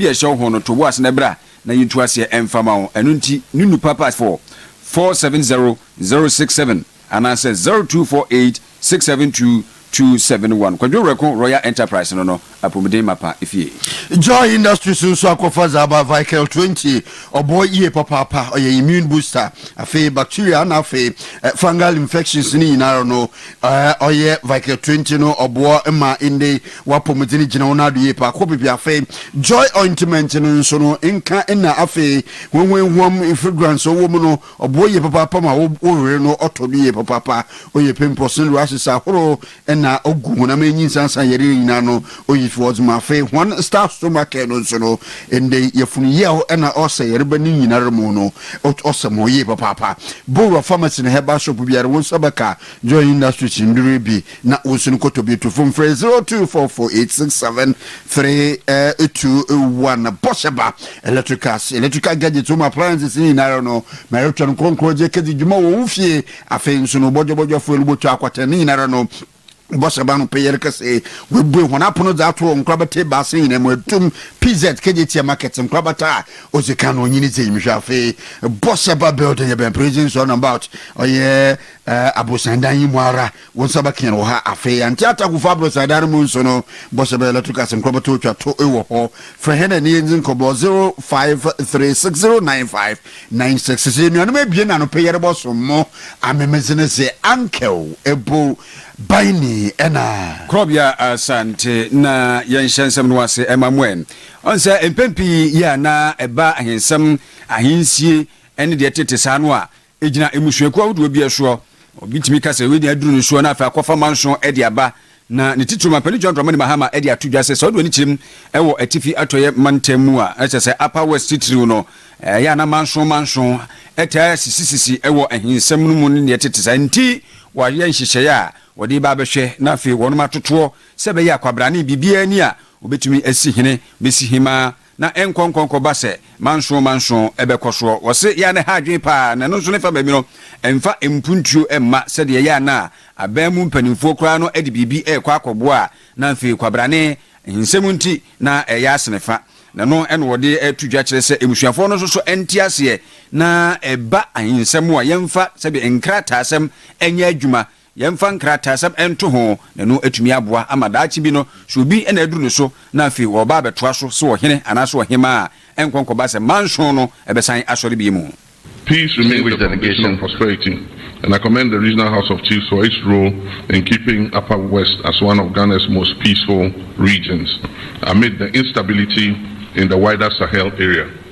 bi a ɛhyɛ wo ho no to wo ase na bra na yɛntu aseɛ mfa ma wo. Ɛno nti, Nunu Papa for four seven zero zero six seven anaasɛ zero two four eight six seven two two seven one. Kwadwo Werɛko Royal Enterprise no no apomuden mapa fie. Joy Industries nso akɔfa dza aba Vikel twenty, ɔboa yie papaapa, ɔyɛ immune booster, afei bacteria na afei fungal infections ne nyinara no Ɔyɛ Viker Twenty no ɔboɔ ma inde w'apɔmuden gyina wo n'ado yie paa kɔ baabi afei Joy Ointment no nso no nka nna afei hwehwehuam fragrance ɔwɔ mu no ɔboɔ yie papaapa ma wo wo were no ɔtɔ do yie papaapa ɔyɛ pimples ne rashes ahorow na ɔgu honam ɛnyi nsansan yareɛ nyinaa no Oyif wɔdz ma afei hɔn staff so ma kɛɛ no nso no, ndɛ yi yɛfun yaw na ɔsɛ yarba ne nyinara mu no, ot ɔsɛ mo yie papaapa. Bowura pharmacy na herbal shop biara wo nsa bɛka Joy Industries ndur yi bi na wo nso no kɔtɔ bi. Tufo mfrɛ 0244867321. Bɔhyɛ ba electricals, electrical gadgets mu appliances ne nyinara no, ma erotwɛn krɔnkrɔngye ekedzi dwuma wɔ wo fie. Afei nso no bɔdwɔbɔdwɔfo, elubɔtɔ, akwatɛn ne nyinara no, Bɔhyɛ ba no peyɛr kɛse. Woebue hɔn apon dze ato nkorbata ebiasa nyina mu, atum, PZ, Kejetia Market, nkorbata a odzi kan, onyin dze enyim hwɛ. Afei, Bɔhyɛ Ba Building yɛ bɛn Prison Zone About, ɔyɛ aborosan dan yi mu ara, wo nsa bɛkã no wɔ ha. Afei, Anti Atakwfo aborosan dan no mu nso no, Bɔhyɛ Ba Electricals nkorbata otwa to wɔ hɔ. Frɛ hɛn na yɛndzi nkɔmbɔ, 0536 095 Na nsɛ sɛ sɛ enuanom ebien na no pɛ yɛrobɔ som mo amemdze no dze annkɛw ebo ban ni na. Krɔbea Asante na yɛnhyɛ nsɛm no ase ma mo ɛ. Ɔn sɛ mpɛn pii yɛ a na ɛba ahensɛm, ahensie ne deɛ ɛtete saa no a, egyina mmusuakuo ahodoɔ bi ɛsoɔ. Obi tumi ka sɛ wei deɛ aduru no soɔ na afei akɔfa manso de aba. Na ne titiriw ma Panyin John Dramani Mahama de ato dwa sɛ sɛ ɔde w'ani kyerɛ mu wɔ Atifi Atɔeɛ mantam mu a, na kyerɛ sɛ Upper West titiriw no, ɛyɛ a na manson manson taa sisisisi wɔ ahinsɛm no mu ne nea ɛtete saa. Enti wɔayɛ nhyehyɛe a wɔde reba abɛhwɛ na afei wɔnom atotoɔ sɛ ɛbɛyɛ a kwabrane biribiara nni a wɔbɛtumi asi hene bɛsi hemmaa Na ɛnkɔ nkɔ nkɔ ba sɛ manson manson ɛbɛkɔ soɔ. Wɔse yɛ a na ɛha adwene paa na ɛno nso ne fa baabi no mfa mpuntuo mma sɛdeɛ ɛyɛ a na aban mu mpanimfoɔ koraa no de biribi rekɔ akɔboa a na afei kwabrane nsɛm nti na ɛreyɛ asene fa. Na ɛno na wɔde reto dwa kyerɛ sɛ mmusuafoɔ no nso so nte aseɛ na ɛba ahensɛm a yɛmfa sɛdeɛ nkrataasɛm nyɛ adwuma Yɛmfa nkrataasɛm nto ho, na ɛno atumi aboa ama daakye bi no, sɛ obi na aduru ne so na afei ɔreba abɛtoa so sɛ ɔhene anaasɛ ɔhemmaa a, ɛnkɔ nkɔba sɛ manson no bɛsan asɔre bio. Peace remains the foundation of prosperity and I commend the Regional House of Chiefs for its role in keeping Upper West as one of Ghana's most peaceful regions amid the instability in the wider Sahel area.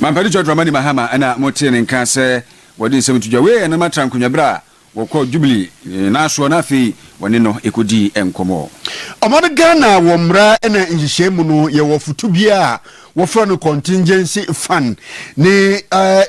Mampadi John Dramani Mahama na motee ne nka sɛ wɔde nsɛm to dwa. Wei yɛ Nana Trankonwa bere a wɔkɔɔ Jubilee nnaasoɔ na afei wɔne no kɔdii nkɔmmɔ. Ɔman Ghana wɔ mmara na nhyehyɛe mu no, yɛwɔ foto bi a wɔfrɛ no contingency fund ne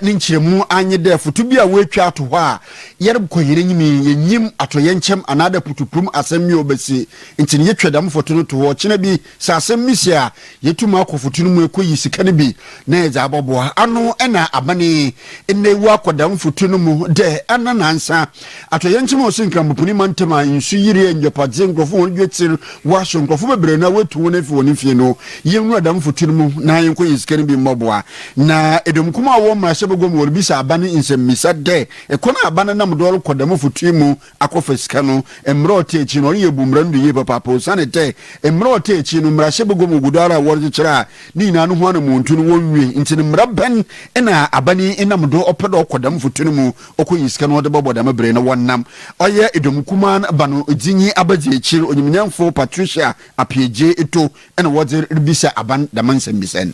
ne nkyerɛmu anye dɛ foto bi a woetwa ato hɔ a yɛrobkɔ hɛn enyim yi, yennyim atɔyɛnkyɛm anaadɛ putupurum asɛm bi a obesi, ntsi no yetwa dɛm foto no to hɔ. Ɔkyena bi, Sɛ asɛm no si a, yetum akɔ foto no mu ekoyi sika no bi na yɛdze abɔboa ano na aban yi nna ewu akɔ dɛm foto no mu dɛ ana naansa. Atɔyɛ nkyema ɔsɛ Nkramoponin mantam a nsu yiri engyepadze nkorɔfo hɔn dwetsir wɔ aso nkorɔfo beberee no a woetu hɔn efi hɔn fie no, yenwura dɛm foto no mu na yɛnkɔyi sika no bi mbɔboa. Na dɔm kumaa a wɔwɔ mbrahyɛbagua mu wɔrebisa aban nsɛmbisa dɛ kwan a aban nam do rokɔ dɛm foto yi mu akɔfa sika no mmerɛ a ɔte akyi no, ɔno yɛ bu mmara no do yie papaapa osiane dɛ mmerɛ a ɔte akyi no, mmarahyɛ bɛgua mu gu do ara a wɔrekyekyere a ne nyinaa no ho anamɔntu no wɔnnwie. Ntsi no mmara bɛn na aban yi nam do ɔpɛ dɛ ɔkɔ dɛm mfotu no mu ɔkɔyi sika no ɔdze bɔbɔ dɛm ber yi na wɔnam ɔyɛ dɔm kumaa no ba no dze nyi aba dzi ekyir? Onyimnyamfo Patricia Appiah-Gyei Ito na wɔdze ribisa aban dɛm nsɛmbisa yi.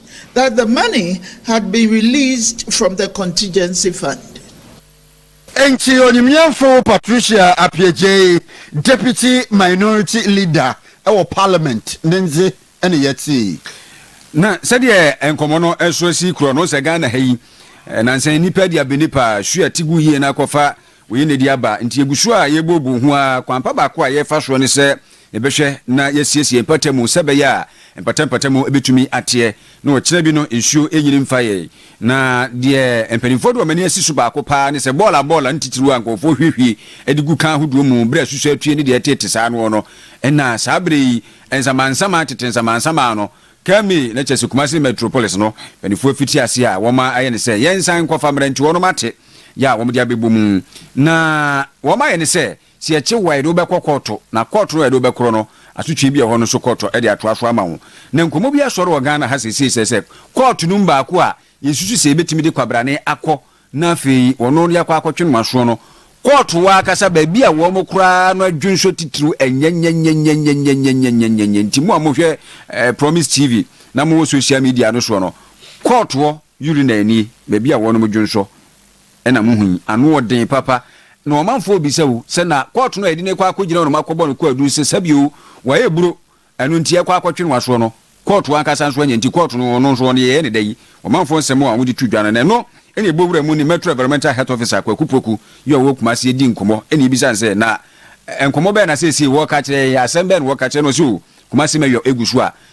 that the money had been released from the contingency fund. Enti onimyɛnfo Patricia Appiagyei, Deputy Minority Leader wɔ Parliament ne ndze na yɛtsee. Na sɛdeɛ nkɔmmɔ no nso si korɔ no, sɛ Ghana ha yi, nansa yi nnipa adi abɛnipa, su a ɛte gu yie na akɔfa Wei na ɛde aba. Nti yɛgu so a yɛrebooboo ho ara. Kwan pa baako a yɛrefa soɔ ne sɛ yɛbɛhwɛ na yɛasiesie mpata mu sɛ ɛbɛyɛ a mpata mpata mu bɛtumi ateɛ na ɔkyena bi no nsuo nnyini mfa yɛn. Na deɛ mpanimfoɔ de wɔn ani asi so baako pa ara ne sɛ bɔɔla bɔɔla ntitiriw a nkurɔfoɔ hwiehwie de gu kan ahodoɔ mu berɛ a asusɔ atue ne deɛ ɛteete saa noɔ no na saa berɛ yi nsamansaman tete nsamansaman no kaa me na kyerɛ sɛ Kumasi Metropolis no mpanimfoɔ fiti aseɛ a wɔayɛ ne sɛ yɛnsan nkɔfa mmerɛntiwɔ no mate yɛ a wɔde abɛbɔ mu. Na wɔayɛ no sɛ, sɛ yɛkye wo a, yɛde wo bɛkɔ kɔɔto, na kɔɔto no a yɛde wo bɛkorɔ no, asotwe bi a ɛhɔ no nso kɔɔto de atoa so ama wo. Na nkɔmmɔ bi asɔre wɔ Ghana ha seesei sɛ sɛ kɔɔto no mu baako a yɛsusu sɛ yɛbɛtumi de kwabrane akɔ na afei ɔno na yɛakɔ akɔtwe no aso no, kɔɔto hɔ ankasa baabi a wɔkora ara no adwonsɔ titiriw nyɛ nyɛnyɛnyɛ. Nti mo a mohwɛ Promise TV na mowɔ social media no soɔ no, kɔɔto hɔ Urinary nie, baabi a wɔnom dwonsɔ na mohu yi, ano ɔden papa, na ɔmanfoɔ rebisa wo sɛ na court no a yɛde no rekɔ akɔgyina nom akɔbɔ no kwaadu no sɛ sɛbi oo, wayɛ aburo, ɛno nti ɛkɔ akɔtwe no asoɔ no, court ankasa nso anya nti court no ɔno nso ɔno yɛyɛ no dɛ yi, ɔmanfoɔ nsɛm a wɔde to dwa no, na ɛno na ɛbɔ wura mu ne Metro Environmental Health Officer Kwaku Poku yi a ɔwɔ Kumasi di nkɔmmɔ na yɛbisa no sɛ na nkɔmmɔ bɛn na seesei wɔreka akyerɛ yɛn yi, asɛm bɛn na wɔreka akyerɛ no, ɔse oo Kumasi Mayor gu so a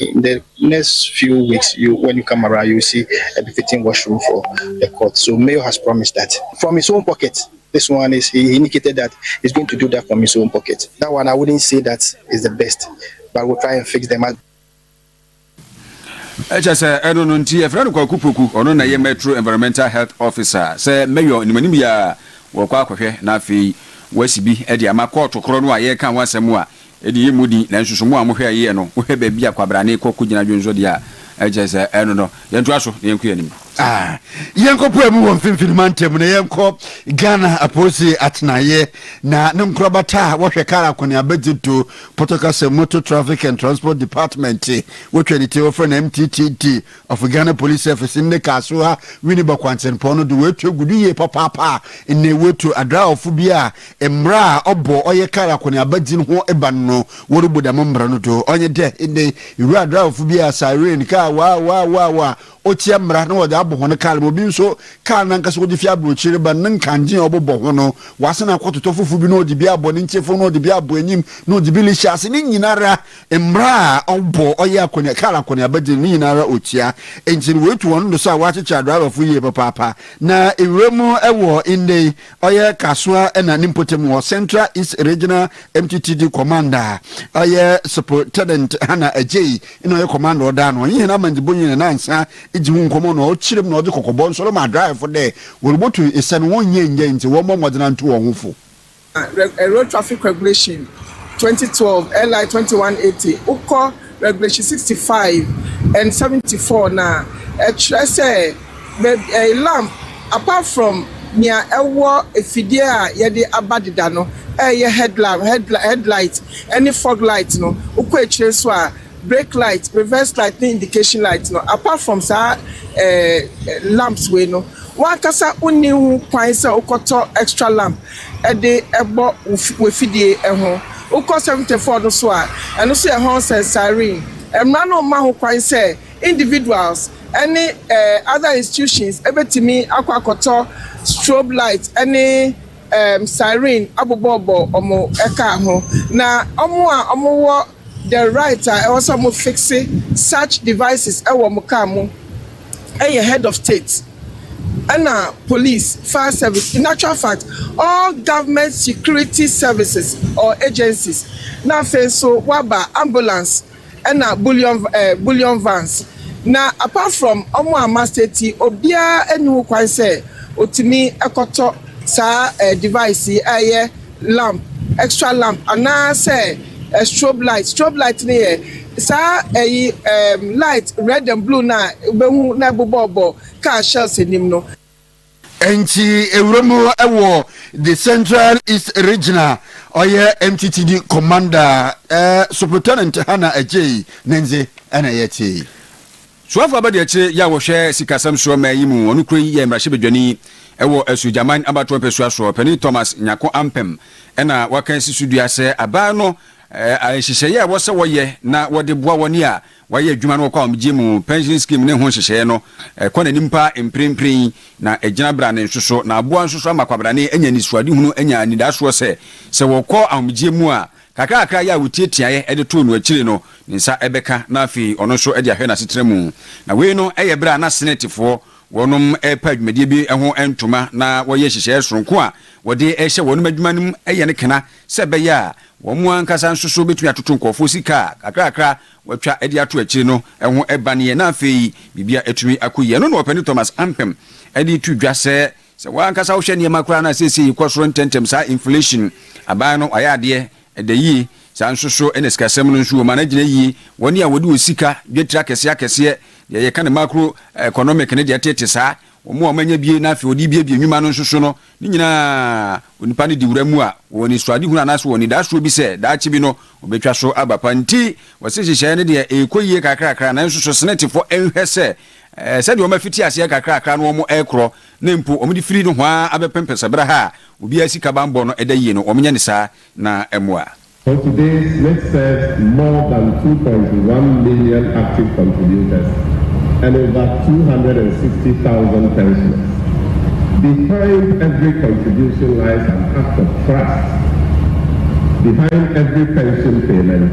In the next few weeks you when you come around you see befitting washroom for the court so mayor has promised that from his own pocket this one is he indicated that he's going to do that from his own pocket that one I wouldn't say that is the best but we'll try and fix them as ɛkyɛ sɛ ɛno no nti ɛfrɛ no Kwaku Poku ɔno na ɛyɛ Metro Environmental Health Officer sɛ mayor nimanim yɛ a wɔkɔ akɔhwɛ na afei wɔasi bi de ama kɔɔto korɔ no a yɛreka ho asɛm a Edi yɛ mu den, nanso so mo a mohwɛ a yɛyɛ no, mohwɛ baabi a kwabrane rekɔ kogyina dwonsɔde a ɛkyerɛ sɛ ɛno no? Yɛntoa so na yɛnkɔ yɛn anim. Ah, yɛnkɔpae mu wɔ Mfinfini Mantam mu na yɛnkɔ Ghana Apoose atenaeɛ na ne nkorabata a wɔhwɛ kar akɔneaba dzi do, Pɔtɔ kasa mu Motor Traffic and Transport Department, wɔtwa ne ti wɔfrɛ no MTTD, Afei Ghana Police Service nne kaa so ha Winneba Kwantsempɔn no do woetu egu do yie papaapa a nna woetu adraɔfo bi a mbra a ɔbɔ ɔyɛ kaar akɔneaba dzin ho ban no worubu dɛm mbra no do. Ɔnye dɛ ndɛ yi iwura adraɔfo bi a siren kaa waa waa waa waa otsia mbra na wɔdze abɔ hɔn kaar ma obi nso kaar nankasa ɔdze fi aborɔkyir reba no ne nkandzee a ɔbobɔ ho no ɔasan akɔtotɔ fofor bi na ɔdze bi abɔ ne ntsefon na ɔdze bi abɔ enyim na ɔdze bi rehyɛ ase ne nyinara Mbra a ɔbɔ ɔyɛ akɔnea kaar akɔneaba dze no, ne nyinara otsia. Ntsi no woetu hɔn do so a wɔakyekyer adrɛbafo yie papaapa. Na ewura mu wɔ ndɛ yi, ɔyɛ Kasoa na ne mpotamu hɔ, Central East Regional MTTD Commander, ɔyɛ Sup'rtenent Hannah Adjei na ɔyɛ Commander ɔda ano. Ɔnye hɛn amandzibɔnyi no nansa dzi ho nkɔmbɔ na ɔkyerɛ mu na ɔdze kɔkɔbɔ so rema adraɛfo dɛ, wɔrobotu nsɛn no wɔnnyɛ nnyɛ ntsi wɔmbɔ mbɔdzen antu hɔnho fo. Road Traffic Regulation, 2012, LI 2180, wokɔ Regulation 65 and 74 no a, ɛkyerɛ sɛ baabi ɛɛ lamp apart from nea ɛwɔ afidie a yɛde aba deda no ɛyɛ head lamp, head li head light ne fog light no, wokɔ akyire nso a brake light, reverse light ne indication light no apart from saa ɛɛ lamps wei no, w'ankasa wonni ho kwan sɛ wokɔtɔ extra lamp. de bɔ w'afidie ho. Wokɔ 74 no so a, ɛno nso yɛ Horns and Siren. Mmara no mma ho kwan sɛ individuals ne other institutions bɛtumi akɔ akɔtɔ strobe light ne siren abobɔbɔ wɔn car ho. Na wɔn a wɔwɔ. The right a ɛwɔ sɛ ɔmo fixe such devices wɔ ɔmo car mu yɛ head of state ɛna police, fire service, in actual fact all government security services or agencies na afei nso waba ambulance ɛna bullion eh, bullion vans na apart from ɔmo a ma state yi obiara ɛni ho kwan sɛ otumi ɛkɔtɔ saa eh, device yi ɛyɛ lamp, extra lamp, anaa sɛ ɛ strobe light, strobe light no yɛ saa ɛyi ɛɛm light red and blue no a wobɛhu na ɛbobɔɔbɔ car shells anim no. Ɛnkyi ewura mu ɛwɔ the central east region a ɔyɛ MTTD commander ɛɛ Supretenent Hannah Adjei ne ndze ɛna yɛtse. Soafo abadiakyire yɛ a wɔhwɛ sikasɛm soɔ mmɛn yi mu ɔno kuro yi yɛ mmarahyɛbadwani wɔ Asuogyaman abatoɔ mpɛsua soɔ. Panin Thomas Nyarko Ampem na waka asi so dua sɛ aban no nhyehyɛeɛ a ɛwɔ sɛ wɔyɛ na wɔde boa wɔn a wɔayɛ adwuma na wɔkɔ ahomegyeɛ mu, pension scheme ne ho nhyehyɛeɛ no kɔ n'anim pa ara mprempren na agyina brane nso so na aboa nso so ama kwabrane anya anisoadehunu anya anidasoɔ sɛ sɛ wɔkɔ ahomegyeɛ mu a Kakrakra yi a wotiatiaeɛ de too no akyire no, ne nsa bɛka na afei ɔno nso de ahwɛ n'asetena mu. Na wei no yɛ berɛ a na Senɛtefoɔ wɔnom repa adwumadie bi ho ntoma na wɔyɛ nhyehyɛeɛ sononko a wɔde rehyɛ wɔnom adwuma no mu yɛ no kena sɛ ɛbɛyɛ a wɔn ankasa nso so bɛtumi atoto nkurɔfoɔ sika a kakrakra wɔatwa de ato akyire no ho baneɛ na afei biribiara atumi akɔ yie. Ɛno na Ɔpanin Thomas Ampem de to dwa sɛ Sɛ wo ankasa wohwɛ nneɛma koraa no a seesei ɛkɔ soro ntɛmntɛm saa inflation aban no ayɛ adeɛ ɛda yie saa nso so na sikasɛm no nso wɔ mu ana gyina yie wɔne a wɔde wɔ sika dwatiri akɛseɛ akɛseɛ deɛ yɛka no macro economic no deɛ tete saa wɔn a wɔanya bie na afei wɔde biebie nnwuma no nso so no ne nyinaa onipa no di wura mu a wɔwɔ anisoade hunu anaasɛ wɔn anidasoɔ bi sɛ daakye bi no wɔbɛtwa so aba pa nti wɔse nhyehyɛeɛ no deɛ ɛrekɔ yie kakrakra nanso so senetefo nhwɛ sɛ Ɛɛ, sɛdeɛ wɔn afiti aseɛ kakrakra na wɔn ɛkorɔ, na mpo wɔn de firi nohoaa abɛpem pɛsɛberɛ ha a obiara sika banbɔ no ɛda yie no, wɔn nyɛ no saa na ɛmoa. For today, Smith serves more than two point one million active contributors and over two hundred and sixty thousand pensioners. Behind every contribution lies an act of trust. Behind every pension payment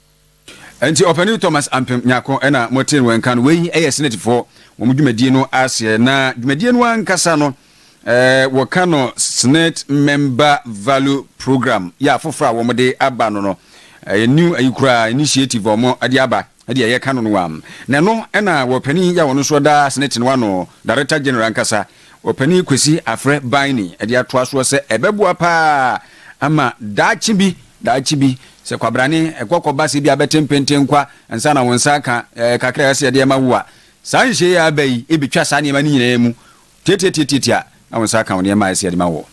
Ɛnti Ɔpanin Thomas Ampem Nyarko na mo tee wɔ nka no, wei yɛ Senate foɔ wɔn dwumadie no aseɛ na dwumadie no ankasa no ɛɛ wɔ ka no Senate Member Value Program yɛ afoforɔ a wɔn de aba no no ɛyɛ new ayi koraa initiative a wɔn de aba ɛde ɛyɛ ka no no wam na ɛno ɛna wɔ panin yɛ a wɔn nso da Senate no ano Director General ankasa Ɔpanin Kwesi Afrɛ Baini de atoa soɔ sɛ, Ɛbɛboa pa ara ama daakye bi, daakye bi, sɛ kwabrane kɔ kɔba sɛ ebia bɛte mpentenkwa ansa na wo nsa aka kakra a ɛsɛ sɛ yɛde rema wo a, saa nhyehyɛeɛ a aba yi bɛtwa saa nneɛma no nyinaa mu tiatiatiatia na wo nsa aka wo nneɛma a ɛsɛ sɛ yɛde ma woɔ.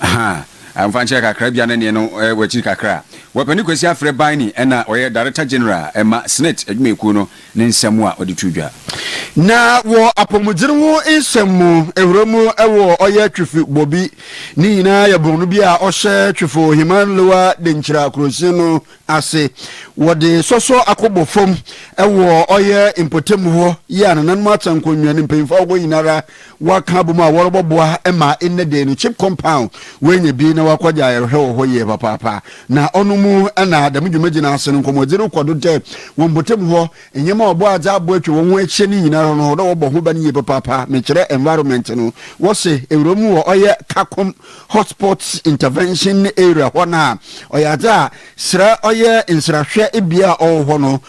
Ahaa, mfa nkyerɛ kakra bia na neɛ no wɔ akyiri kakra. Wapani Kwasi afrɛ Baini ɛna ɔyɛ Director General ɛma Senate adwumayɛkuo no ne nsɛm a ɔde too dwa. Na wɔ apɔmuden ho nsɛm mu ɛhura mu ɛwɔ ɔyɛ Twefi Bobi ne nyinaa yɛ bɔn no bi a ɔhyɛ Twefo Heman Lower Denkyira Kurosin no ase. Wɔde sɔsɔ akɔbɔ fam wɔ ɔyɛ mpɔtam hɔ yi a nananom atena nkonnwa no mpanyimfo ahorow nyinara wɔaka abom a wɔrebɔ boa ma nnɛ da yi no chip compound wɔanya bi na wɔakɔgye ayɛrehwɛ wɔ hɔ yie papaapa. Na ɔno mu na dɛm dwumadzi no ase no nkɔmbɔdzi rokɔ do dɛ wɔ mpɔtam hɔ nyeɛma a ɔbɔ adze abo etwa hɔnho ehyia no nyinara no dɛ wɔbɔ ho ban yie papaapa. Mekyerɛ environment no, wɔse ewura mu wɔ ɔyɛ Kakom. Hotspots Intervention Area hɔ no a, ɔyɛ adze a serɛ ɔyɛ nserahwɛ bea a ɔwɔ hɔ no.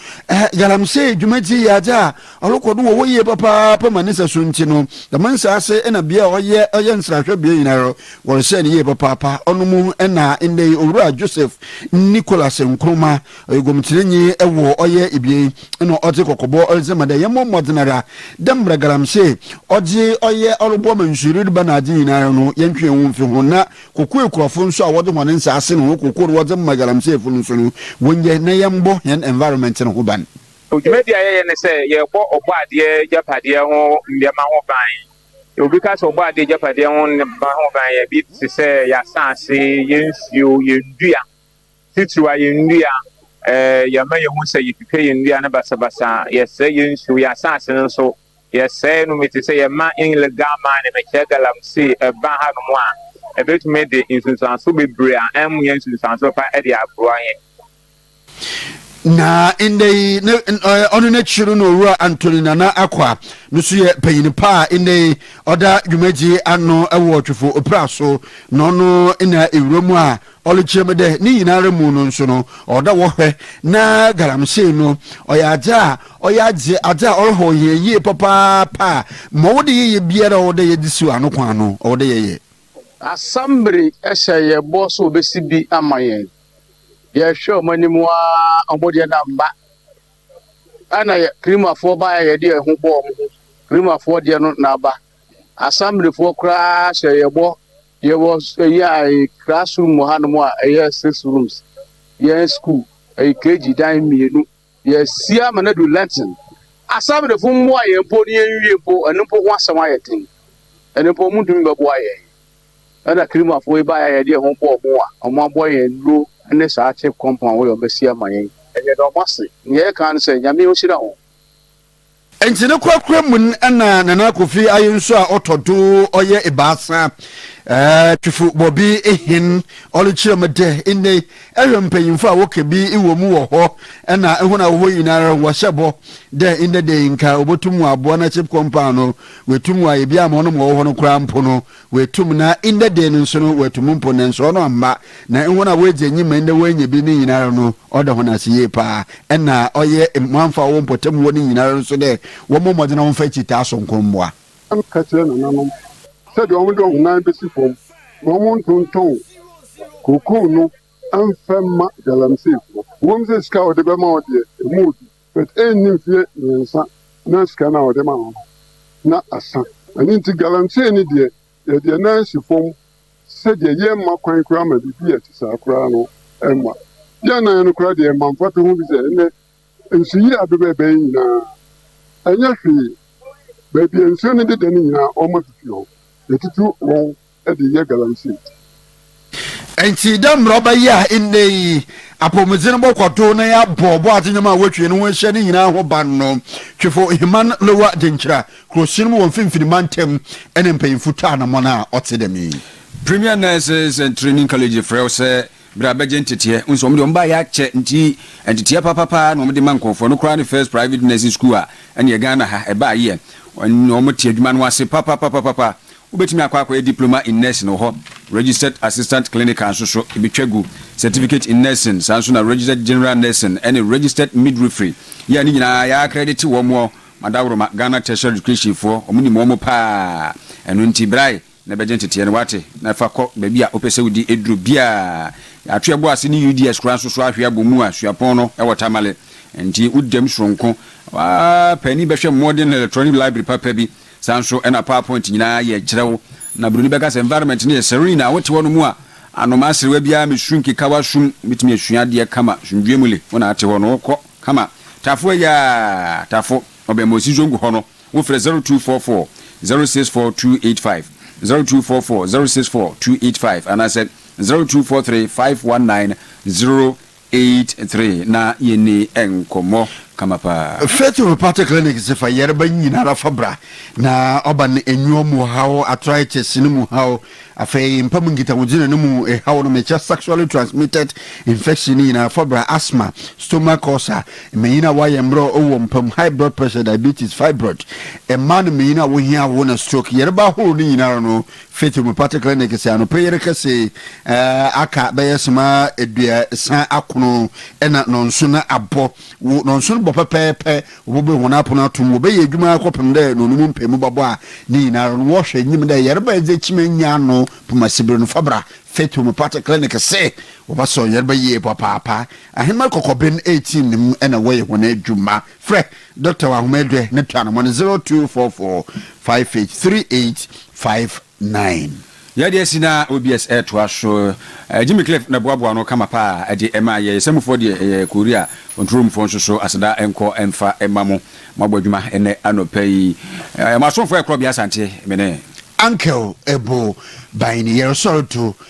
Galamsey dwumadzi yɛ adze a ɔrokɔ do wɔ hɔ yie papaapa ma ne nsaso ntsi no, dɛm nsaase na bea a ɔyɛ ɔyɛ nserahwɛ bea nyina no, wɔrehyɛ no yie papaapa. Ɔno mu na ndɛ yi Owura Joseph Nicholas Nkrumah Ɔyɛ gɔmkyerɛnyi wɔ ɔyɛ ebien na ɔdze kɔkɔbɔ dze ma dɛ yɛmbɔ mbɔdzen ara dɛ mbrɛ galamsey ɔdze ɔyɛ ɔroboa ma nsu reba na adze nyinara no yɛntwe hɛnho mfi ho na koko ekurafo no so a wɔdze hɔn nsaase na hɔn koko no wɔdze ma galamseyfo no so no wɔnyɛ na yɛmbɔ hɛn environment no ho ban. Dwumadzi a yɛyɛ ne sɛ yɛbɔ ɔbɔadeɛ gyapadeɛ ho nneɛma ho ban. Obi ka sɛ ɔbɔadeɛ gyapadeɛ ho nneɛma ho ban yɛ bi te sɛ yɛn asaase, yɛn nsuo, yɛn dua. Titiriw a yɛn nnua. Yɛma yehu sɛ yetwitwa yɛn nnua no basabasa, yɛsɛe yɛn nsu, yɛn asase no nso, yɛsɛe no. Mete sɛ yɛma ilegal mining mekyɛ galamsey ba hanom a, ebetumi de nsunsuanso bebree a ɛnyɛ nsunsuanso pa de aboa yɛn. Na nnɛ yi, ɔno n'akyi no na Owura Anthony Nana Akwa no nso yɛ panyin pa a nnɛ yi ɔda dwumadie ano wɔ Twefo Opira so, na ɔno na ewura mu a Ɔrekyerɛ mu dɛ ne nyinara mu no so no, ɔwɔ dɛ wɔhwɛ na galamsey no ɔyɛ adze a ɔyɛ adze adze a ɔrehɔn hɛn yie papaapa a, ma ɔwɔ dɛ yɛyɛ biara a ɔwɔ dɛ yɛdze siw ano kwan no, ɔwɔ dɛ yɛyɛ. Asɛmbere hyɛ hɛn bɔ sɛ wobesi bi ama hɛn. Yɛhwɛ hɔn anim ara, hɔn deɛ nna ammba. Nna yɛ Kirimafoɔ baeɛ a yɛde yɛn ho bɔɔ wɔn ho, Kirimafoɔ deɛ no na aba. Asɛmberefoɔ koraa hyɛɛ yɛn bɔ Yɛwɔ ɛyi a class room wɔ hanom a ɛyɛ six rooms. Yɛn school ɛyɛ KG dan mmienu. Yɛasi ama no adu Lenten. Asɛmdefo mmoa yɛn mpo na yɛnwie mpo, ɛno mpo ho asɛm ayɛ den. Ɛno mpo wɔntumi bɛboa yɛn. Ɛna Kirimafoɔ yi baeɛ a yɛde yɛn ho bɔɔ wɔn a, wɔaboa yɛn nnuro ne saa chip compound yi a wɔasi ama yɛn. Yɛda wɔn ase. Nea yɛka ne sɛ, Nyame ɔnhyira wɔn. Ntsi no korakora mu no nna Nana Kofi Aye nso a ɔtɔ do ɔyɛ ebiasa Twifo wɔ bi hen. Ɔrekyerɛ mu dɛ, Ndɛ yi, ehwɛ mpanyimfo a wɔka bi wɔ mu wɔ hɔ na hɔn a wɔwɔ hɔ nyinara no, wɔhyɛ bɔ dɛ ndɛ da yi nka wobotum wɔaboa na Chip Compaw no, woetum wɔayɛ bi ama hɔn ma wɔwɔ hɔ no koraa mpo no, Oetum na ndɛ da yi no so no oetum mpo na nnsɔɔ no ammba, na hɔn a woedzi enyim ma ndɛ woennya bi no nyinara no, ɔda hɔn ase yie paa. Nna ɔyɛ mboamfa a ɔwɔ mpɔtam hɔ no nyinara no so dɛ wɔmbɔ mbɔdzen na wɔmfa ekyirtaa soronko mboa. Sam ka kyerɛɛ nananom sɛdeɛ wɔde wɔn nan bɛsi fam na wɔntontɔn kookoo no mfa mma galamseyfoɔ. Ɛwom sɛ sika a wɔde bɛma wo deɛ, ɛmu yɛ duru. But ɛnni mfeɛ mmiɛnsa na sika no a wɔde ma no no na asa. Ɛno nti galamsey no deɛ yɛ deɛ nan asi fam sɛ deɛ yɛmma kwan koraa ma biribi a ɛte saa koraa no mma yɛn nan no koraa deɛ ɛma mfatoho bi sɛ ɛnnɛ nsuyiri a bɛbɛ bɛyɛ nyinaa ɛnyɛ hwee baabi a nsuo no deda no nyinaa wɔma fifi hɔ yɛtutu wɔn de yɛ galamsey. Ntsi dɛ mbrɛ ɔbɛyɛ a ndɛ yi apɔwmudzen bɔkɔ do na yɛabɔ bɔadze ndwom a wotwe no ho ehyia ne nyina ho ban no, Twifo Heman Lowa Denkyira, Kurosuon mu wɔ Mfinimfin Mantam, na mpanyimfo twaa anamɔn a ɔtse dɛm yi. Premier Nurses and Training College frɛ wo sɛ bra bɛgye nteteɛ. Wo nso wɔn deɛ wɔn baayɛ akyɛ nti nteteɛ papapa na wɔn de ma nkurɔfoɔ. No koraa ne first private nursing school a ɛneɛ Ghana ha ɛbaayɛ. Wɔn wɔn te adwuma no ase papapapapa. Wobɛtumi akɔ akɔyɛ Diploma in Nursing wɔ hɔ, Registered Assistant Clinical nso so ɛbɛtwa gu, Certificate in Nursing, saa nso na Registered General Nursing ɛne Registered Midwifery, yɛ a ne nyinaa yɛakredite wɔn wɔ Madaworoma, Ghana Tertiary Education foɔ, wɔn nim wɔn paa, ɛno nti brae na bɛgye nteteɛ no woate, na fa kɔ baabi a wopɛ sɛ wodi aduro biara. Yɛato yɛbo ase ne UDS koraa nso so ahwe abɔ mu a suapɔn no wɔ Tamale, ɛnti wo dam soronko, w'aa paani bɛhwɛ mmɔden na electronic library papa bi. Saa nso na PowerPoint nyinaa yɛ kyerɛw. Na Buroni bɛka sɛ environment no yɛ serene a wote hɔ no mu a, anomaa serewa biara mmesu nkeka w'asom. Wubetumi asua adeɛ kama. Asomdwoeɛ mu le, wo na ate hɔ no, wokɔ kama. Tafo ayaa, Tafo, Ɔbɛnmosi Zongo hɔ no, wofrɛ 0244 064 285, 0244 064 285, anaasɛ 0243 519 Eight three na yɛ ni nkɔmɔ kama paa. Faith Homeopathic Clinic se fa yarba nyinara fa bra, na ɔba no enyuo mu haw, arthritis no mu haw, afei mpa mu nkitahodzinna no mu haw no mekyɛ sexually transmitted infection no nyinara fa bra, asthma, stomach ulcer, mbanyin a wɔayɛ mberɛw wɔ mpa mu, high blood pressure, diabetes, fibroid, mmaa no mbanyin a wohia awo na stroke, yarba ahorow no nyinara no Faith Homeopathic Clinic sɛ anɔpa yere kɛse aka bɛyɛ sema aduasa akono ɛna nɔnso na abɔ wo nɔnso no bɔ pɛpɛɛpɛ wɔbɛbɛ wɔn apono atom wɔbɛyɛ adwuma akɔpem dɛ na ɔno mu mpɛ mu bɛbɔ a ne nyinara no wɔhwɛ nyim dɛ yɛreba ɛdze kyima nya ano pomasibere no fabra Faith Homeopathic Clinic se wɔbɛsɔ yɛreba yie papaapa ahema kɔkɔben 18 no mu ɛna wɔyɛ wɔn adwuma Frɛ Dɔkta wɔ ahoma adwɛ na tua no mmɔ no 0244 58 3859. Yɛ deɛ asi na OBS ɛɛtoa so. Jimmy Cliff na ɛboaboa ano kama paa ɛde ɛmaa yɛn. Samufoɔ deɛ ɛyɛ Korea, Ntoromfoɔ nso so aseda nkɔ mfa mma mo. Moabɔ adwuma ɛnnɛ anɔpa yi. Mo asomfoɔ ɛkorɔ bea Asante, mene. Uncle Ebo, Baini, Yɛresɔre to